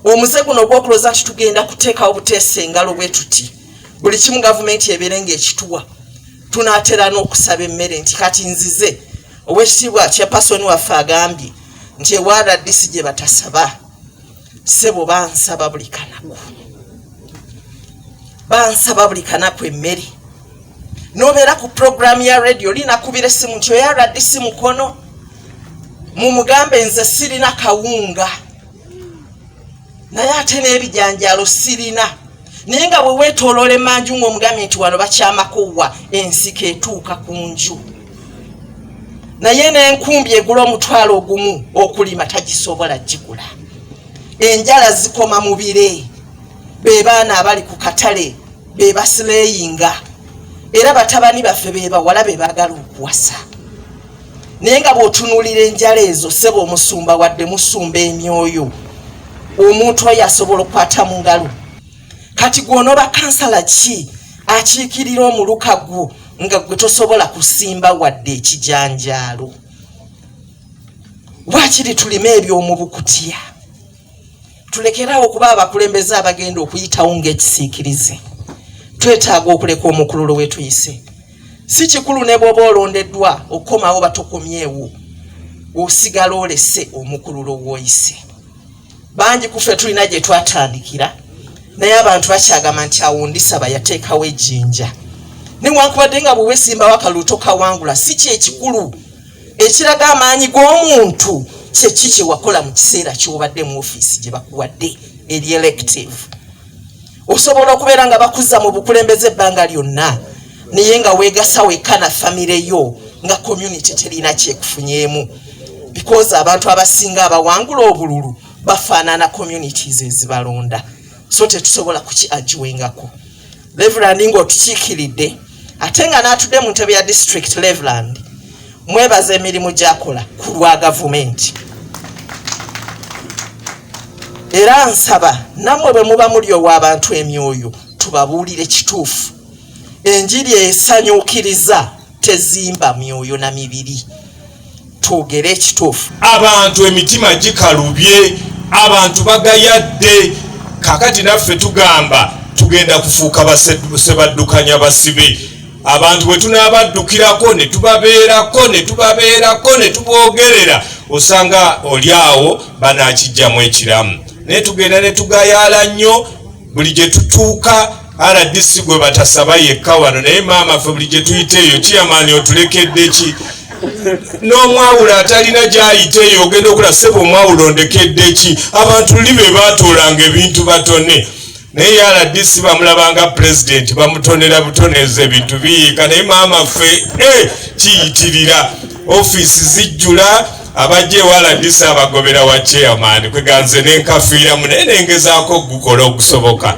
omuze guno ogwokuloza nti tugenda kuteekawo buteesa engalo bwe tuti buli kimu gavumenti ebeere ngaekituwa tunatera n'okusaba emmere nti kati nzize owekitiibwa kya pasoni waffe agambye nti ewaradisi gye batasaba sebo bansaba buli kanaku bansaba buli kanaku emmere nobeera ku puroguramu ya radio linakubira essimu nti oyaradisi mukono mumugambe nze sirina kawunga naye ate n'ebijanjalo sirina naye nga bwe weetooloola emanju ng'omugambye nti wano bakyamakuwa ensiko etuuka ku nju naye n'enkumbi egula omutwalo ogumu okulima tagisobola gigula enjala zikoma mu bire be baana abali ku katale be basileyinga era batabani baffe be bawala be baagala okuwasa naye nga bwotunulira enjala ezo sebo omusumba wadde musumba emyoyo omuntu oyo asobola okukwata mu ngalo kati gwonoba kansala ki akiikirira omuluka gwo nga gwe tosobola kusimba wadde ekijanjaalo wakiri tulime ebyomubukutya Tulekeraawo okuba abakulembeze abagenda okuyitawo ng'ekisiikirize. Twetaaga okuleka omukululo we tuyise. Si kikulu ne bw'oba olondeddwa okukomawo batokomyewo, osigala olese omukululo w'oyise. Bangi ku ffe tulina gye twatandikira, naye abantu bakyagamba nti awo ndisaba yateekawo ejjinja. Newankubadde nga bwe weesimbawo akalulu tokawangula, si ky'ekikulu. ekiraga amaanyi g'omuntu kyeki kyewakola mu kiseera kyobadde mu ofiisi gye bakuwadde eri elective osobola okubeera nga bakuzza mu bukulembeze ebbanga lyonna naye nga weegasa wekka na famire yo nga community terina kyekufunyeemu because abantu abasinga abawangula obululu bafaanana communities ezibalonda so tetusobola kuki agiwengako Reverend nga otukiikiridde ate nga n'atudde mu ntebe ya district Reverend mwebaza emirimu gyakola ku lwa gavumenti era nsaba nammwe bwe muba muli ow'abantu emyoyo tubabuulire kituufu enjiri esanyukiriza tezimba myoyo na mibiri twogere ekituufu abantu emitima gikalubye abantu bagayadde kakati naffe tugamba tugenda kufuuka basebaddukanya basibe abantu bwe tunaabaddukirako ne tubabeerako ne tubabeerako ne tuboogerera osanga oli awo banaakijjamu ekiramu naye tugenda ne tugayaala nnyo buli gye tutuuka rdc gwe batasaba yekka wano naye maama ffe buli gye tuyita eyo kiyamaani otulekedde ki n'omwawulo atalina gyayita eyo ogenda okula sebe omwawulo ndekedde ki abantu li be baatoolanga ebintu batone naye rdc bamulabanga pulezidenti bamutonera butoneeza ebintu biyiika naye maama ffe eh, kiyitirira ofiisi zijjula abajja ewala ndisa abagobera wa chairman kweganze nenkafiiramu naye nengezaako okugukola okusoboka